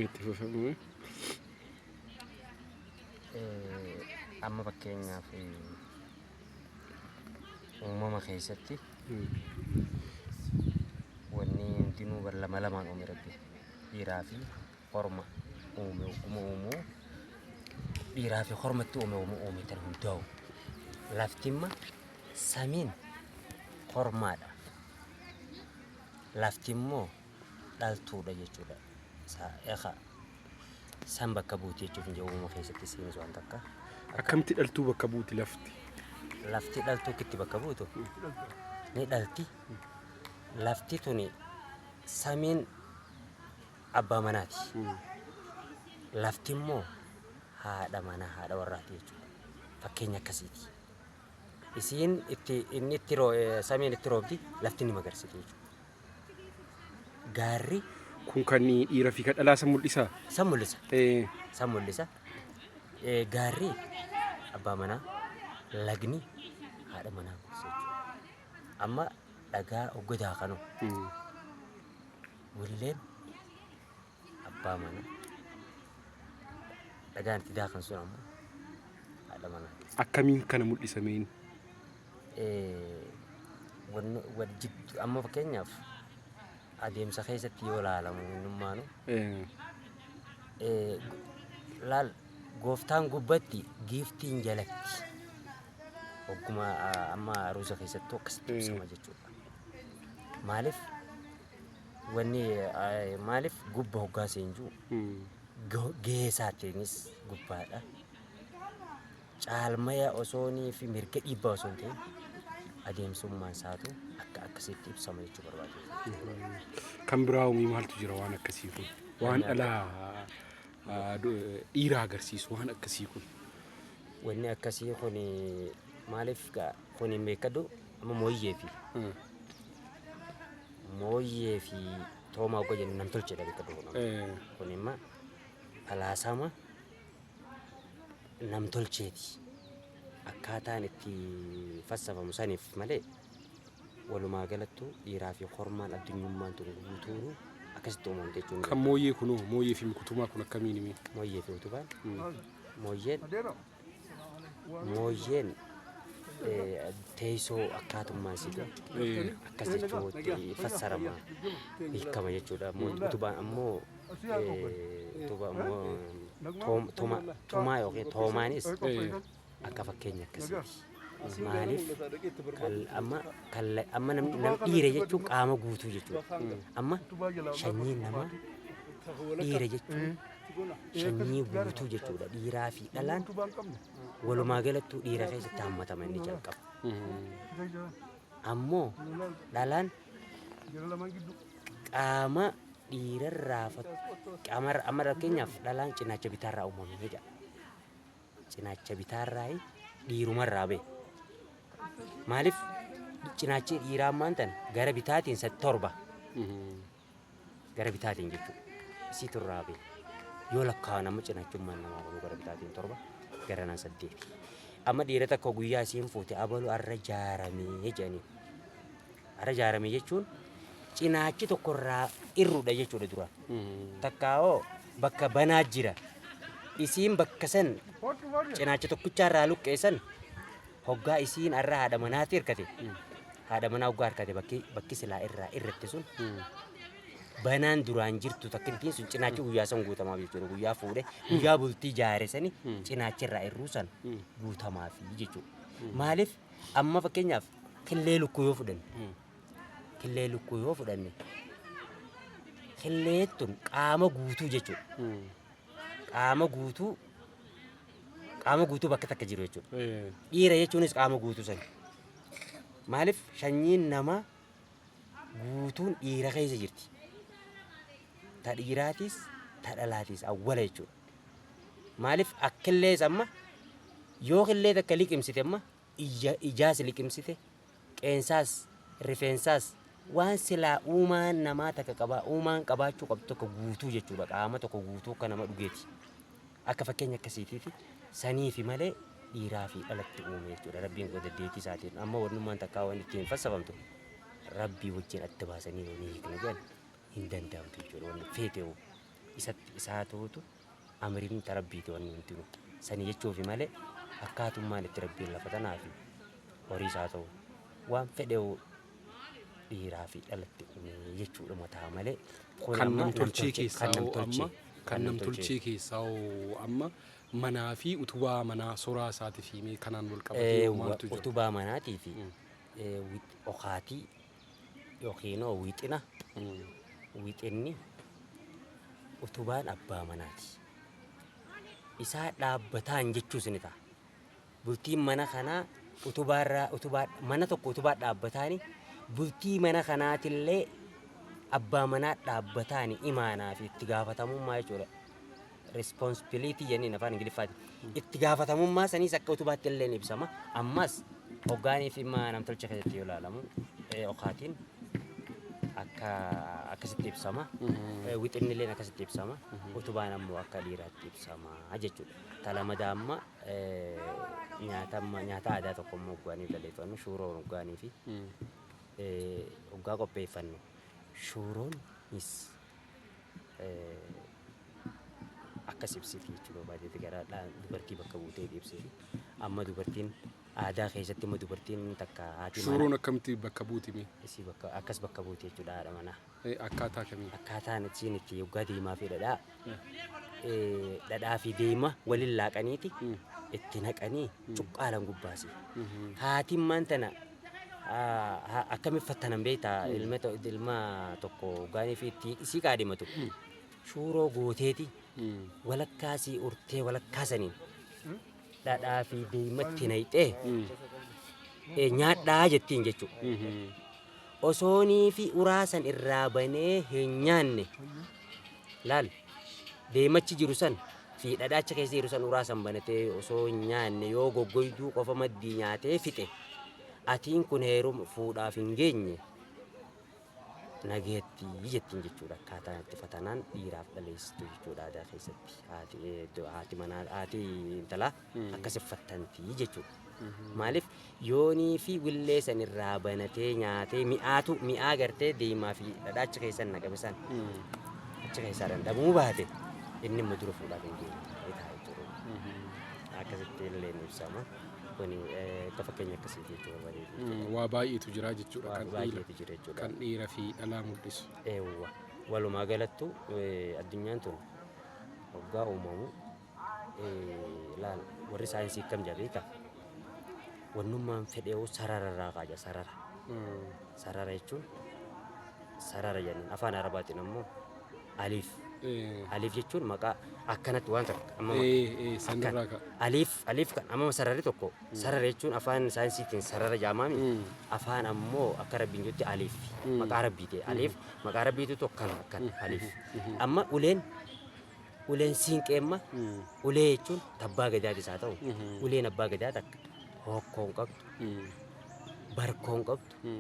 itti fufamuu amma fakkeenyaaf uumama keessatti wanni hundinuu bar lama lamaan uumi rabbi dhiiraa fi Korma uume hogguma uumuu dhiiraa fi kormatti uume hogguma uume tan hundaa'u. Laftimma samiin kormaadha. Lafti immoo dhaltuudha jechuudha. Sa- Eka san bakka buuti jechuuf hin jiru uumama keessatti isiinis waan takka. Akka Akkamitti dhaltuu bakka buuti lafti? lafti dhaltuu kitti bakka buutu ni dhalti. Lafti tuni samiin abbaa manaati. Lafti immoo haadha manaa haadha warraati jechuudha. Fakkeenya akkasiiti. Isiin itti inni itti roo- eh, samiin itti roobdi lafti ni magarsiti jechuudha. Gaarri Kun kan dhiira fi kan dhalaa san mul'isa. san mul'isa. Eh, San mul'isa. Eh, Gaarri abbaa manaa lagni haadha manaa mul'isa jechuudha. Amma dhagaa oggodaa kanoo mm. Willeen abbaa mana dhagaan itti daakan sun ammoo haadha manaa. Akkamiin kana mul'isameen? Eh, wanni wal jiddu amma fakkeenyaaf adeemsa keessatti yoo ilaalamu innummaanu Eh, eh, laal gooftaan gubbatti giiftiin jalatti ogguma ah, amma aruusa keessattuu akkasitti Eh. ibsama jechuudha. Maaliif Wanni eh, maaliif gubba hoggaa seenjuu go- gahee isaatiinis gubbaadha. Caalmaya osoonii fi mirga dhiibbaa osoo hin ta'in adeemsummaan isaatu akka akkasitti ibsama jechuu barbaada. Kan biraa umii maaltu jira waan akkasii kun? Waan dhala ah, du- dhiira agarsiisu waan akkasii kun. Wanni akkasii kun maaliif gaa kun hin beekadu amma mooyyee fi mooyyee fi toomaa ogga jennu nam tolchedha beekka duuba Eh, kun imma falaasama nam tolcheeti akkaataan itti fassafamu saniif malee walumaa galattuu dhiiraa fi hormaan addunyummaan tun guutuunu akkasitti uumamte jechuun kan mooyyee kunoo mooyyee fi mikutumaa kun akkamiin himi mooyyee fi utubaan mooyyeen Mooyyeen eh, teessoo akkaatummaa isiidha. Eh, Akkas jechuutti fassarama hiikama jechuudha. Mo- Utubaan ammoo eh, utubaa ammoo toom- toma- tomaa yookiin toomaanis eh, akka fakkeenya akkasiiti. Maaliif amma amma namni dhiira jechuun qaama guutuu jechuudha. Amma shanyiin namaa dhiira jechuun shanyii guutuu jechuudha. Dhiiraa fi dhalaan walumaa galattuu dhiira keessatti hammatama inni jalqaba. Ammoo dhalaan qaama dhiirarraa qaama amma fakkeenyaaf dhalaan cinaacha bitaarraa uumamee jedha. cinaacha bitaarraayi dhiirumarraa ba'e. Maaliif cinaachi dhiiraa ammaan tan gara bitaatiin sadi torba gara bitaatiin jechuudha. Isiitu irraa ba'e. Yoo lakkaa'an amma cinaachummaan namaa kunuu gara bitaatiin torba garanaan saddeeti. Amma dhiira takka guyyaa isiin fuute abalu arra jaaramee jedhanii. Ara ijaarame jechuun cinaachi tokko irraa irrudha jechuudha duraan. Takkaawoo bakka banaa jira. Isiin bakka san cinaacha tokkichaa irraa luqqeessan hoggaa isiin arra haadha manaatti hirkate. Haadha manaa hoggaa hirkate bakki bakki silaa irraa irratti sun banaan duraan jirtu takkittiin sun cinaachi guyyaa san guutamaa jechuudha. Guyyaa fuudhe guyyaa bultii jaare sani cinaachi irraa irruu san guutamaaf jechuudha. Maaliif Amma fakkeenyaaf killee lukkuu yoo fudhanne killee lukkuu yoo fudhanne killee tun qaama guutuu jechuudha. Qaama guutuu qaama guutuu bakka takka jiru jechuudha. Dhiira jechuunis qaama guutuu sana. Maaliif sanyiin namaa guutuun dhiira keessa jirti. Ta dhiiraatis ta dhalaatis awwala jechuudha. Maalif akkillees amma yoo killee takka liqimsite amma ija ijaas liqimsite qeensaas rifeensaas waan silaa uumaan namaa takka qabaa uumaan qabaachuu qabdu tokko guutuu jechuudha qaama tokko guutuu akka nama dhugeeti akka fakkeenya akkasiitiiti saniifi malee dhiiraa fi dhalatti uume jechuudha rabbiin kun deddeetii isaatiin amma wannummaan takkaa waan ittiin fassafamtu rabbii wajjin adda baasanii wanii hiiknu jedhan hin danda'amtu jechuudha wanni feeteewu isatti isa haa ta'utu amriin ta rabbiiti wanni hundinu sani jechuufi malee akkaatummaan itti rabbiin lafa tanaafi horiis haa ta'u waan fedhewu dhiiraa fi dhalatti uume jechuudhuma ta'a malee kun kan amma namtolchee namtolchee keessaa kan hoo amma namtolchee kan kan namtolchee namtolchee keessaa hoo amma manaa fi utubaa manaa soraa isaatiif himee kanaan wal qabatee hoo eewwa maaltu jira? utubaa manaatii fi Mm. eh, wix- okaatii yookiinoo wixina wixinni utubaan abbaa manaati. Isaa dhaabbataan jechuus ni ta'a. Bultiin mana kanaa utubaarraa utubaa mana tokko utubaa dhaabbataani bultii mana kanaatillee abbaa manaa dhaabbataani imaanaa fi itti gaafatamummaa jechuudha. responsibility jenneen afaan Ingiliffaatiin. Itti gaafatamummaa saniis akka utubaatti illee ni ibsama. Ammas hoggaanii fi dhimma namtolcha keessatti yoo ilaalamu eh, okaatiin akka akkasitti ibsama. Eh, Wixinni illee akkasitti ibsama. Utubaan ammoo akka dhiiraatti ibsama jechuudha. Talamada amma eh, nyaata amma- nyaata aadaa tokko immoo hoggaanii balleeffannu shuuroo hoggaanii fi eh, hoggaa qopheeffannu shuuroonis akkas ibsiti jechuu barbaadeeti gara dubartii bakka buutee ibsiti. Amma dubartiin aadaa keessatti immoo dubartiin takka haati manaa Shuuroon akkamitti bakka buuti mee? isii bakka akkas bakka buute jechuudha haadha manaa. Eh, Akkaataa kamiin? Akkaataan ittiin itti yoggaa deemaa fi dhadhaa eh, dhadhaa fi deema waliin laaqaniiti itti naqanii cuqqaalan gubbaasi. Haatiin maan tana akkami fattanan beektaa ilma to- ilma tokko gaanii fi itti isii qaadimatu shuuroo gooteeti walakkaa sii urtee walakkaa saniin dhadhaa fi deematti nayxee eh, nyaadhaa jettiin jechuudha. Osoonii fi uraasan irraa banee hin nyaanne Laal! Leemachi jiru san fi dhadhaacha keessa jiru san uraa san banatee osoo hin nyaanne yoo goggoyduu qofa maddii nyaatee fixe, atiin kun heeruma, fuudhaaf hin geenye, nagayatti jettiin jechuudha. Akkaataan itti fatanaan dhiiraaf dhaleessitu jechuudha aadaa keessatti. Haati, eh, haati manaa, haati intalaa. akka siffattanti jechuudha. Maaliif yoonii fi willee san irraa banatee nyaatee mi'aatu mi'aa gartee deemaa fi dhadhaa achi keessan naqame san achi keessaa dandhabuu baate inni immoo dura fuudhaaf hin deemne ta'a jechuudha. Akkasitti illee ni ibsama. Kuni eh, akka fakkeenya akkasiiti jechuudha bareedu. Waa baay'eetu jira jechuudha Waa kan dhiira baay'eetu jira jechuudha. kan dhiira fi dhalaa mul'isu. Eewwa. Walumaa galattu eh, addunyaan tun waggaa uumamu laal warri saayinsii akkam jedha beektaa? Wannummaan fedheewu sarara irraa kaaja sarara. Sarara jechuun sarara jennan afaan arabaatiin ammoo aliif. Aliif jechuun maqaa akkanatti waan takka amma sanirraa ka'a. aliif aliif kan amma sararri tokko sarara jechuun afaan saayinsiitiin sarara jaamaami afaan ammoo akka rabbiin jetti aliif maqaa rabbiiti aliif maqaa rabbiitu tokko kan kan aliif amma uleen Uleen siinqeemma ulee jechuun tabbaa gadaatis haa ta'u uleen abbaa gadaa takka hokkoo hin qabdu barkoo hin qabdu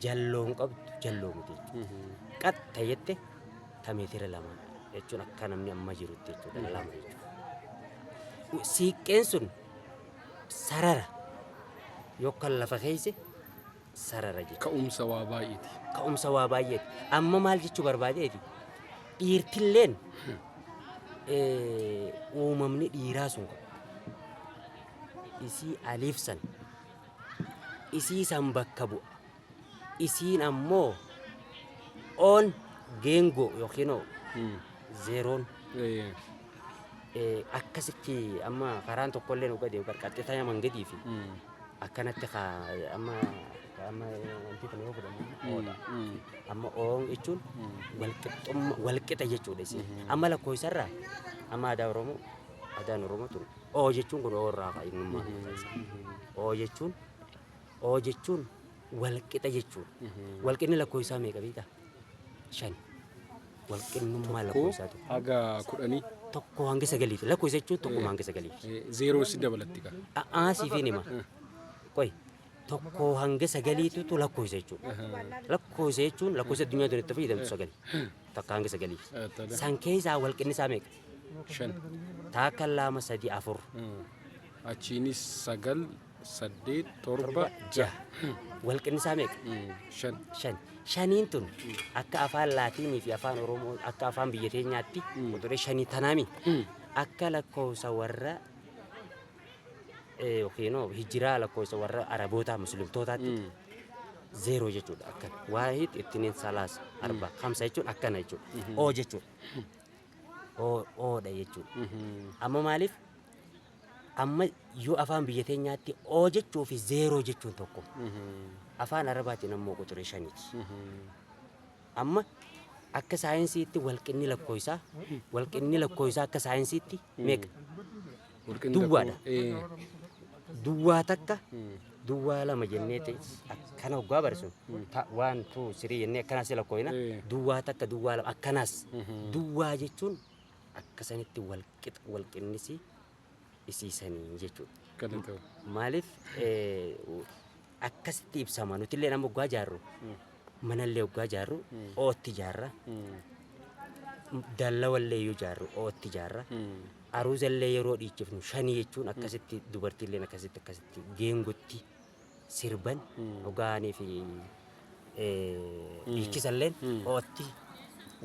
jalloo hin qabdu jalloo miti qatta jette ta meetira lama jechuun akka namni amma jirutti jechuudha lama jechuudha. Siiqqeen sun sarara yookaan lafa keeyse sarara jechuudha. Ka'umsa waa baay'eeti. Ka'umsa waa baay'eeti. Amma maal jechuu barbaadeeti? Dhiirtilleen uumamni dhiiraa sun isii aliif san isii san bakka bu'a. Isiin ammoo oon geengoo yookiin hmm. zeeroon akkasitti amma karaan tokkollee nu gadee qarqartee taa'ee mangadii fi hmm. akkanatti ka amma ka amma wanti kun yoo godhamu oodha. Amma oon jechuun walqixxumma walqixa jechuudha isin. Amma lakkoofsarraa amma aadaa Oromoo aadaan Oromoo tun oo jechuun kun oo irraa ka'a innummaa kun isa. Oo jechuun oo jechuun walqixa jechuudha. Walqinni lakkoofsaa meeqa beektaa? shan walqinnummaa Tokko lakkoofsaa tokko haga kudhanii tokko hanga sagaliif lakkoofsa jechuun tokkuma hanga sagaliif eh, zeeroo si dabalatti ka. a'aa siifiin hima qoy tokko hanga sagaliitutu lakkoofsa jechuudha lakkoofsa jechuun lakkoofsa addunyaa tun itti fayyadamtu sagali takka hanga sagaliif Eh, tada. san keessaa walqinnisaa meeqa Shan. taakka lama sadii afur Mm. Achiinis sagal saddeet torba jaha wal qinnisaa meeqa? shan shan shaniin tun akka afaan laatiinii fi afaan oromoo akka afaan biyya teenyaatti quxuree shanii tanaami akka lakkoofsa warra eh, yookiin hoo hijiraa lakkoofsa warra arabootaa muslimtootaatti zeeroo jechuudha akkana waahid ittiniin salaasa arba hamsa jechuun akkana jechuudha oo jechuudha oo oodha jechuudha amma maaliif Amma yoo afaan biyya keenyaatti oo jechuu fi zeeroo jechuun tokko. Afaan Arabaatiin ammoo quxuree shaniti. Amma akka saayinsiitti walqinni lakkooysaa walqinni lakkooysaa akka saayinsiitti meeqa? Duwwaadha. Duwwaa takka duwwaa lama jennee te- akkana oggaa barreessu ta- waan tuu sirii jennee akkanaas lakkooyna Eh. duwwaa takka duwwaa lama akkanaas duwwaa jechuun akka sanitti wal qixa wal qinnisi isiisanii jechuudha. Galatoo. Maaliif eh, akkasitti ibsama nuti illee nama oggaa jaarru mana illee oggaa jaarru ootti jaarra dallawa illee yoo jaarru ootti jaarra aruuza illee yeroo dhiichifnu shanii jechuun akkasitti dubartii illee akkasitti akkasitti geengotti sirban dhugaanii fi dhiichisalleen ootti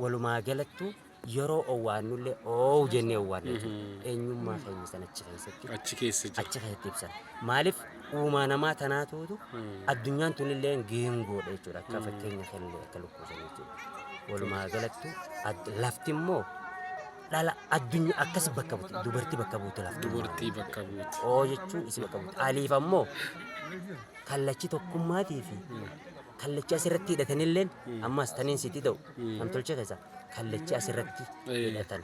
walumaa galattuu yeroo owwaannullee oowu jennee owwaanna jechuudha. Eenyummaa keenya san achi keessatti Achi keessa jira. achi keessatti ibsan. Maaliif uumaa namaa tanaatuutu addunyaan tunillee geengoodha jechuudha. Akka fakkeenya kennee akka lukkuusan jechuudha. Walumaa galattuu ad- lafti immoo dhala addunyaa akkasi bakka buute dubartii bakka buute lafti dubartii bakka buute oo jechuun isi bakka buute aliif ammoo kallachi tokkummaatii fi kallachi asirratti hidhatanilleen ammas taniin sitti ta'u namtolchee keessa kallachi asirratti hidhatan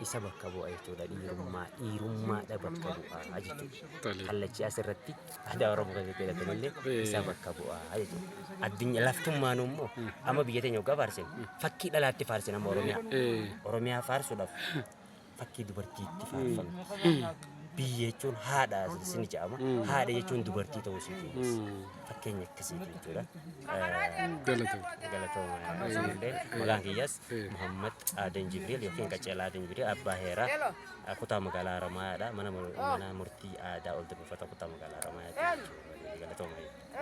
isa bakka bu'a jechuudha dhiirummaa dhiirummaadha bakka bu'a jechuudha kallachi asirratti aadaa Oromoo keessatti jedhatanillee isa bakka bu'a jechuudha. Addunyaa laftummaan immoo amma biyya teenya waggaa faarsin fakkii dhalaatti faarsin amma Oromiyaa. Oromiyaa faarsuudhaaf fakkii dubartiitti faarfama. Biyya jechuun haadha isin jedhama. Haadha jechuun dubartii ta'uu isii keenyas. Fakkeenya akkasiiti jechuudha. Galatooma isinillee maqaan kiyyas Muhammad Aadan Jibriil yookiin Qacceel Aadan Jibriil abbaa heeraa Kutaa Magaalaa Haramaayaadha. Mana Murtii Aadaa Ol Debufata Kutaa Magaalaa Haramaayaatti jechuudha. Galatoomaa.